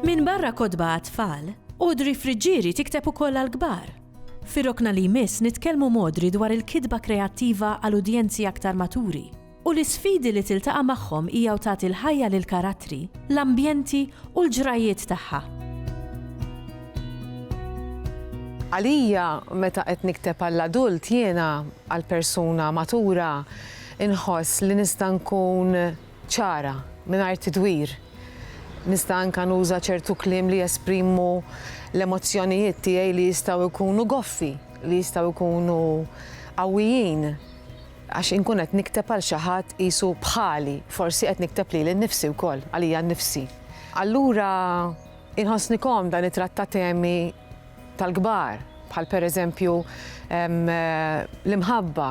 Minbarra kotba għat-tfal, Audrey Friggieri tikteb ukoll għall-kbar. Fir-rokna li jmiss nitkellmu m'Audrey dwar il-kitba kreattiva għal udjenzi aktar maturi. u l-isfidi li tiltaqa' magħhom hija u tagħti l-ħajja lill-karattri, l-ambjenti u l-ġrajjiet tagħha. Għalija, meta qed nikteb għall-adult jiena, għall-persuna matura, inħoss li nista' nkun ċara, mingħajr tidwir. Nista' anke nuża ċertu kliem li jesprimu l-emozzjonijiet tiegħi li jistgħu jkunu goffi, li jistgħu jkunu qawwijin. Għax inkun qed nikteb għal xi ħadd qisu bħali, forsi qed nikteb lili nnifsi wkoll, għalija nnifsi. Allura inħossni komda nittratta temi tal-kbar, bħal pereżempju l-imħabba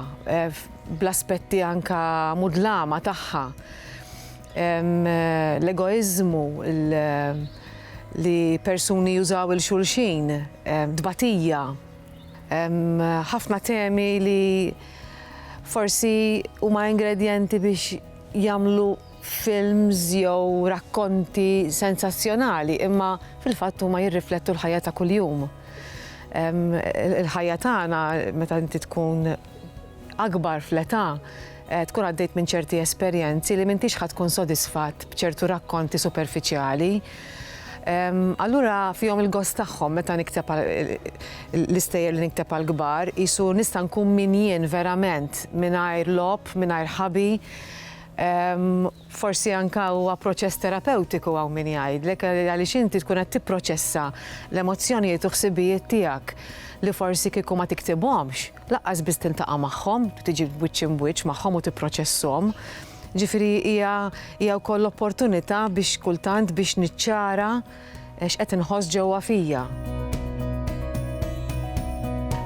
bl-aspetti anke mudlama tagħha, l-egoiżmu, li persuni jużaw 'il xulxin, tbatija. Hemm ħafna temi li forsi huma ingredjenti biex jagħmlu films jew rakkonti sensazzjonali, imma fil-fatt huma jirriflettu l-ħajja ta' kuljum. Il-ħajja tagħna meta inti tkun akbar fl-età, tkun għaddejt minn ċerti esperjenzi li m'intix ħa tkun sodisfatt b'ċertu rakkonti superfiċjali. Allura fihom il-gost tagħhom meta nikteb l-istejjer li nikteb għal kbar, qisu nista' nkun min jien verament mingħajr logħob, mingħajr ħabi, Forsi anke huwa proċess terapewtiku hawn min jgħidlek għaliex inti tkun qed tipproċessa l-emozzjonijiet u ħsibijiet tiegħek li forsi kieku ma tiktibhomx, lanqas biss tiltaqa' magħhom, tiġi wiċċ imbwiċċ magħhom u tipproċesshom. Ġifieri hija hija wkoll opportunità biex kultant biex niċċara x'qed inħoss ġewwa fija.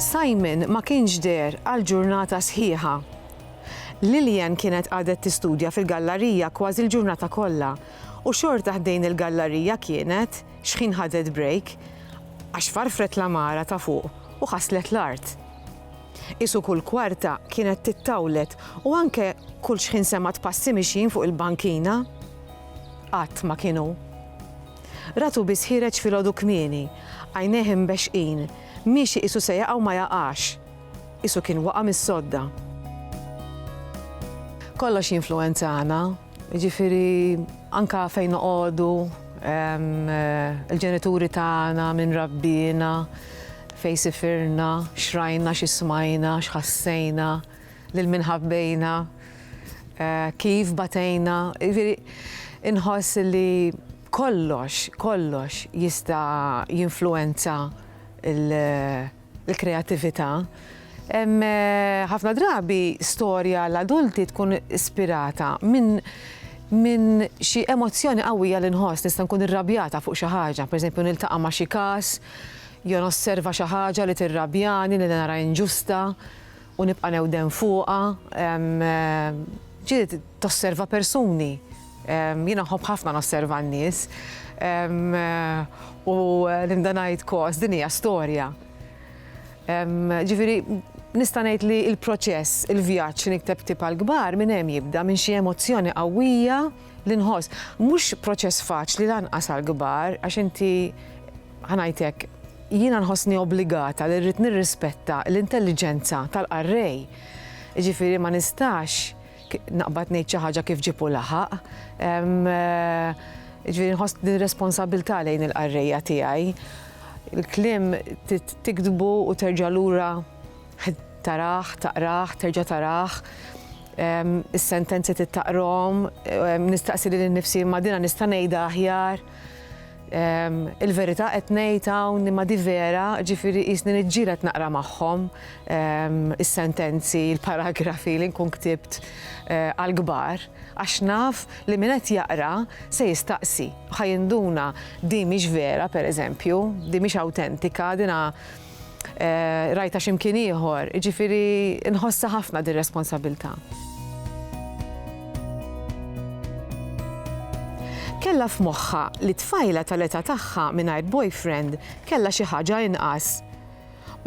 Simon ma kienx deher għal ġurnata sħiħa. Lillian kienet qagħdet tistudja fil-gallarija kważi l-ġurnata kollha, u xorta ħdejn il-gallarija kienet, xħin ħadet brejk, għax farfret l-għamara ta' fuq u ħasslet l-art. Qisu kull kwarta kienet tittawlet u anke kull xħin semgħet passi mixjin fuq il-bankina. Qatt ma kien hu. Ratu biss ħiereġ filgħodu kmieni, għajnejh imbexxqin, miexi qisu se jaqa' u ma jaqax. Qisu kien waqa' mis-sodda. Kollox jinfluwenzana, jiġifieri anke fejn noqogħdu, il-ġenituri tagħna, min rabbiena, fejn sifirna, x'rajna, xi smajna, x'ħassejna, lil min ħabbejna, kif batejna, jiġifieri inħoss li kollox, kollox jista' jinfluwenza l- l-kreattività. Ħafna drabi storja għal adulti tkun ispirata minn minn xi emozzjoni qawwija li nħoss, nista' nkun irrabjata fuq xi ħaġa, pereżempju niltaqa' ma' xi każ, jew nosserva xi ħaġa li tirrabjani li nara inġusta u nibqa' newden fuqha. Ġieli tosserva persuni. Jiena nħobb ħafna nosserva n-nies u nibda ngħid kos, din hija storja. Ġifieri nista' ngħid li l-proċess, il-vjaġġ li nikteb ktieb għall-kbar minn hemm jibda, minn xi emozzjoni qawwija li nħoss. Mhux proċess faċli lanqas għall-kbar għax inti, ħa ngħid hekk, jiena nħossni obbligata li rrid nirrispetta l-intelliġenza tal-qarrej. Jiġifieri ma nistax Naqbad ngħid xi ħaġa kif ġipu laħaq. Ġifieri nħoss din responsabilità lejn il-qarrejja tiegħi. Il-kliem tiktbu u terġa' lura taraħ, taqraħ, terġa' taraħ, is-sentenzi tittaqrom, nistaqsi lil nifsi ma' dina nista' ngħidha aħjar. Il-verità qed ngħid hawn imma di vera, ġifieri qisni niġġieled naqra magħhom is-sentenzi, il-paragrafi li nkun ktibt għall-kbar għax naf li min qed jaqra se jistaqsi, ħa jinduna din mhix vera pereżempju, din mhix awtentika, dina Rajtha xi mkien ieħor, jiġifieri nħossha ħafna din responsabilità. Kellha f'moħħha li tfajla tal-età tagħha mingħajr boyfriend kellha xi ħaġa inqas.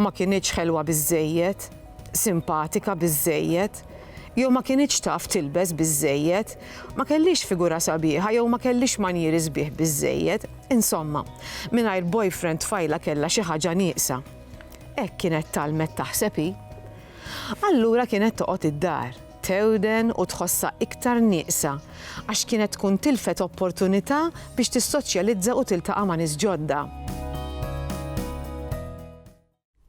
Ma kinitx ħelwa biżżejjed, simpatika biżżejjed, jew ma kinitx taf tilbes biżżejjed, ma kellhiex figura sabiħa jew ma kellhiex manjieri sbieħ biżżejjed. Insomma, mingħajr boyfriend tfajla kellha xi ħaġa nieqsa. Hekk kienet tgħallmet taħseb hi. Allura kienet toqgħod id-dar, tewden u tħossha iktar nieqsa għax kienet tkun tilfet opportunità biex tissoċjalizza u tiltaqa' ma' nies ġodda.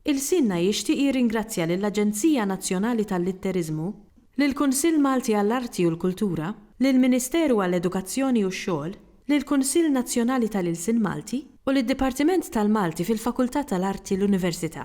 Ilsienna jixtieq jirringrazzja lill-Aġenzija Nazzjonali tal-Litteriżmu, lill-Kunsill Malti għall-Arti u l-Kultura, lill-Ministeru għall-Edukazzjoni u x-Xogħol, lill-Kunsill Nazzjonali tal-Ilsien Malti u lid-Dipartiment tal-Malti fil-Fakultà tal-Arti l-Università.